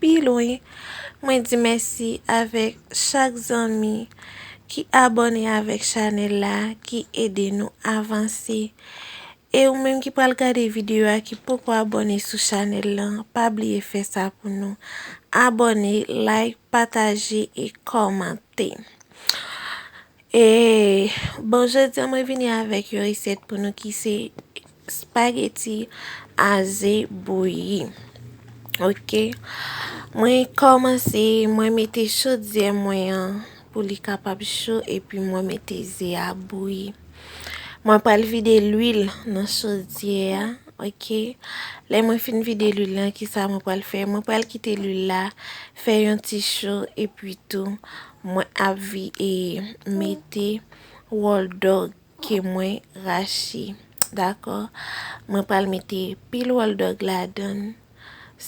Pi lwen, mwen di mèsi avèk chak zanmi ki abòne avèk chanèl la, ki ede nou avanse. E ou menm ki pral gade videyo a ki poko abòne sou chanèl lan, pa bliye fè sa pou nou. Abòne, like, pataje e kòmante. E bon jodi an mwen vini avèk yon resèt pou nou ki se. Spaghetti a ze bouyi ok mwen komanse mwen mete chodyè mwen an pou li kapab cho epi mwen mete ze a bouyi mwen pral vide lwil nan chodyè a ok lè mwen fin vide lwil lan kisa mwen pral fè mwen pral kite lwil la fè yon ti cho epi tou mwen ap vi e mete wòl dog. ke mwen rache dakò mwen pral mete pil wòl dòg ladann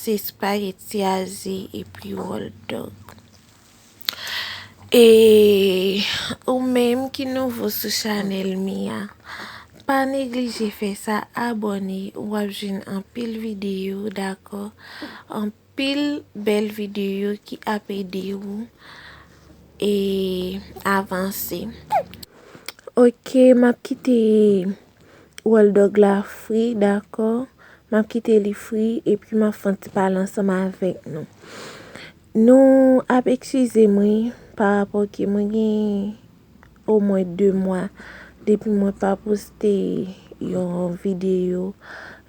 se spaghetti a ze epi wòl dòg e ou menm ki nouvo sou chanèl mi a pa neglije fè sa abòne wap jwenn anpil videyo dakò. Pil bel video ki ap ede ou e avanse. Ok map kite wòl dog la fri dakò map kite li fri epi map fon ti pale ansanm avèk nou nou ap eksizem wi parapò ke mwen gen o mwen 2 mwa depi mwen pa poste yon videyo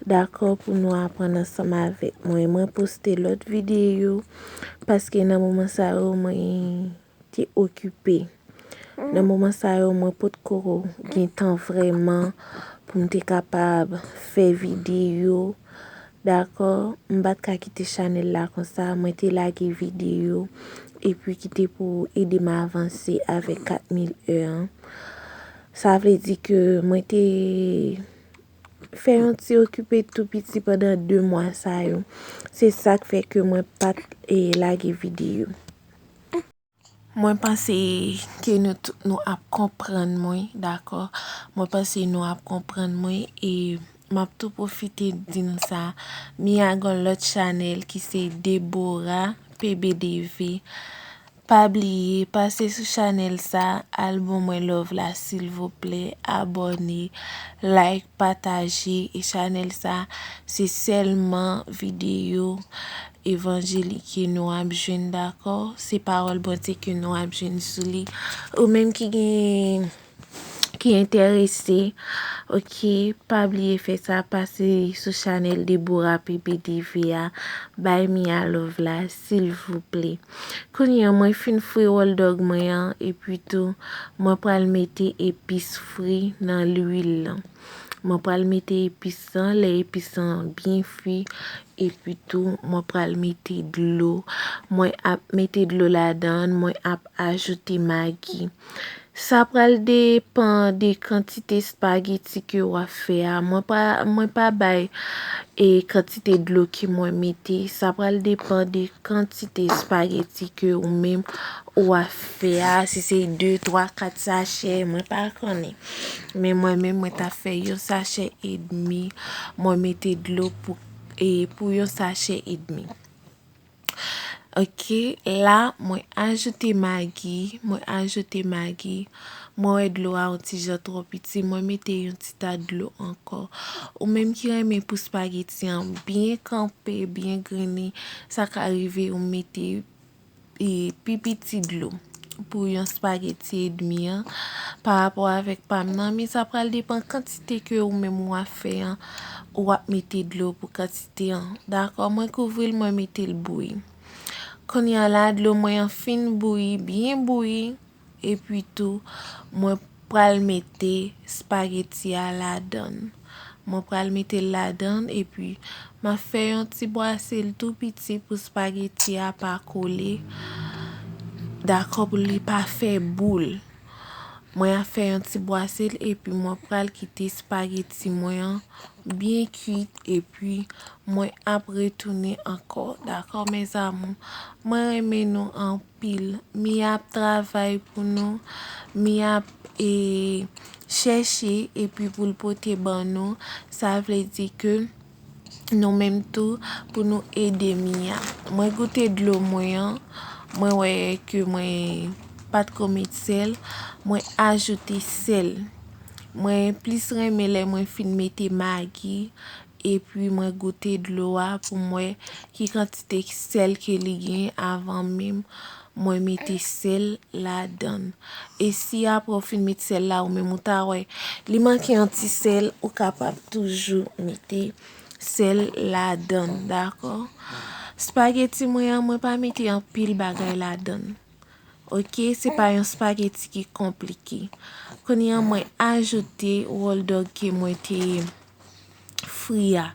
dakò pou nou aprann ansanm avèk mwen mwen poste lòt videyo paske nan moman sa yo mwen te okipe nan moman sa yo mwen pot ko gen tan vreman pou m te kapab fè videyo Dakò m pat ka kite chanèl la konsa mwen te lage videyo epi kite pou ou ede m avanse avèk 4000 eu an sa vle di ke mwen te fè yon ti okipe tou piti pandan 2 mwa sa yo se sak fè ke mwen pat lage videyo. Mwen panse ke nou tout nou ap konprann mwen dakò mwen panse nou ap konprann mwen e map tou pwofite di nou sa Mia gon lòt chanèl ki se Deborah PBDV pa bliye pase sou chanèl sa al bon mwen love la silvouplè abòne like pataje e chanèl sa se sèlman videyo Evanjelik ke nou ap jwenn dakò, se pawòl Bondye ke nou ap jwenn sou li. Ou menm ki gen, ki entèrese, ok, pa bliye fè sa, pase sou chanèl Deborah PBDV a, bay Mia love la, silvouplè. Kounye an, mwen fin fri wòl dòg mwen an, epi tou, mwen pral mete epis fri nan lwil lan. Mwen pral mete epis lan, lè epis lan byen fwi epi tou mwen pral mete dlo. Mwen ap mete dlo ladan, mwen ap ajoute magi. Sa pral depan de kantite espageti ke w ap fè a. Mwen pa bay e kantite dlo ke mwen mete. Sa pral depan de kantite espageti ke ou menm ou ap fè a. Si se 2, 3, 4 sachè, mwen pa konnen. Men mwen menm mwen ta fè yon sachè edmi mwen mete dlo pou yon sachè edmi ok la mwen ajoute magi mwen ajoute magi mwen wè dlo a yon ti jan trò piti mwen mete yon ti ta dlo ankò ou menm ki renmen pou spageti an byen kanpe byen grene sa ka rive ou mete pi piti dlo pou yon spaghetti edmi an pa rapò avèk pam nan men sa pral depan kantite ke ou menm ou ap fè an ou ap mete dlo pou kantite an dakò mwen kouvril mwen metel bouyi kounya la dlo mwen an fin bouyi byen bouyi Epi tou, mwen pral mete spageti a ladan l. Mwen pral mete l ladan l epi m ap fè yon ti bwase l tou piti pou spageti a pa kole. Dakò pou li pa fè boul. Mwen ap fè yon ti bwase l epi mwen pral kite spageti mwen an byen kuit epi mwen ap retounen ankò. Dakò mezamou. Mwen renmen nou anpil. pil mia ap travay pou nou mia ap e chèche epi poul pote ban nou sa vle di ke nou menm tou pou nou ede mia mwen goute dlo mwen an mwen wè ke mwen pat ko met sèl mwen ajoute sèl mwen plis renmen lè mwen fin mete magi Epi mwen goute dlo a pou m wè ki kantite sèl ke li gen avan menm mwen mete sèl ladan l. E si aprè ou fin met sèl la ou menm ou ta wè li manke yon ti sèl ou kapab toujou mete sèl ladan l dakò. Spaghetti mwen an mwen pa mete anpil bagay ladan l. Ok se pa yon spaghetti ki konplike. Kounye an mwen ajoute roll dog ke mwen te fri a.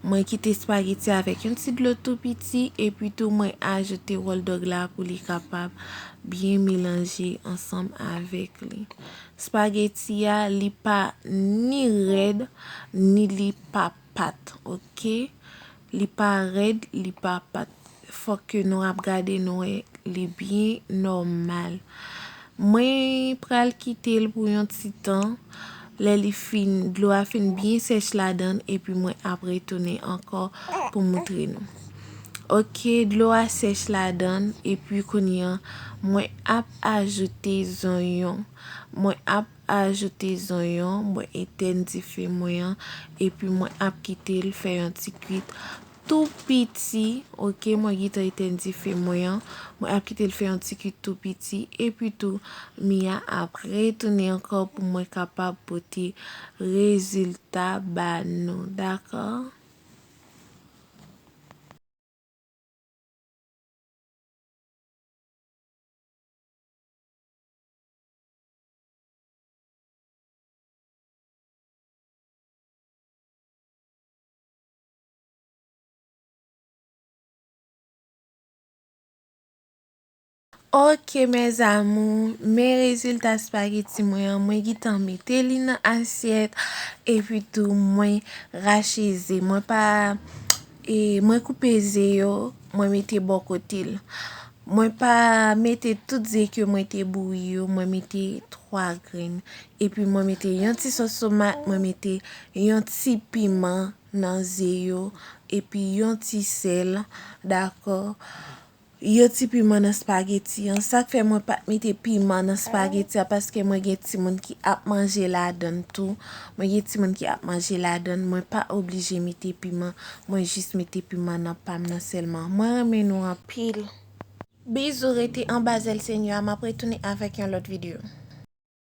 Mwen kite spaghetti avèk yon ti dlo tou piti epi tou mwen ajoute roll dog la pou li kapab byen melanje ansanm avèk li. Spaghetti a li pa ni rèd ni li pa pat. Ok. Li pa red li pa pat. Fok ke nou ap gade nou wè li byen normal. Mwen pral kitel pou yon ti tan. Lè li fin dlo a fin byen sèch ladann epi mwen ap retounen ankò pou moutre nou. Ok dlo a sèch ladann epi kounye an mwen ap ajoute zonyon. Mwen ap Ajoute zonyon, mwen etèn dife mwen an epi mwen ap kitel fè yon ti kwit tou piti ok mwen gentan etèn dife mwen an mwen ap kitel fè yon ti kwit tou piti epi tou mia ap retounen ankò pou mwen kapab pote rezilta ba nou dakò. Ok mes amours men rezilta spaghetti mwen an mwen gitan mete li nan asyèt epi tou mwen rache ze mwen pa E mwen koupe ze yo, mwen mete bò kote l. Mwen pa mete tout ze ke mwen te bouyi yo, mwen mete 3 grenn. Epi mwen mete yon ti sòs tomat, mwen mete yon ti piman nan ze yo, epi yon ti sèl, dakò. Yo ti piman nan spaghetti an. Sak fè mwen pat mete piman nan spaghetti a paske mwen gen timoun ki ap manje ladann tou. Mwen gen timoun ki ap manje ladann. Mwen pa oblije mete piman. Mwen jis mete piman nan pam nan sèlman. Mwen renmen nou anpil. Bizou rete anba zèl senyè a map retounen avèk yon lòt video.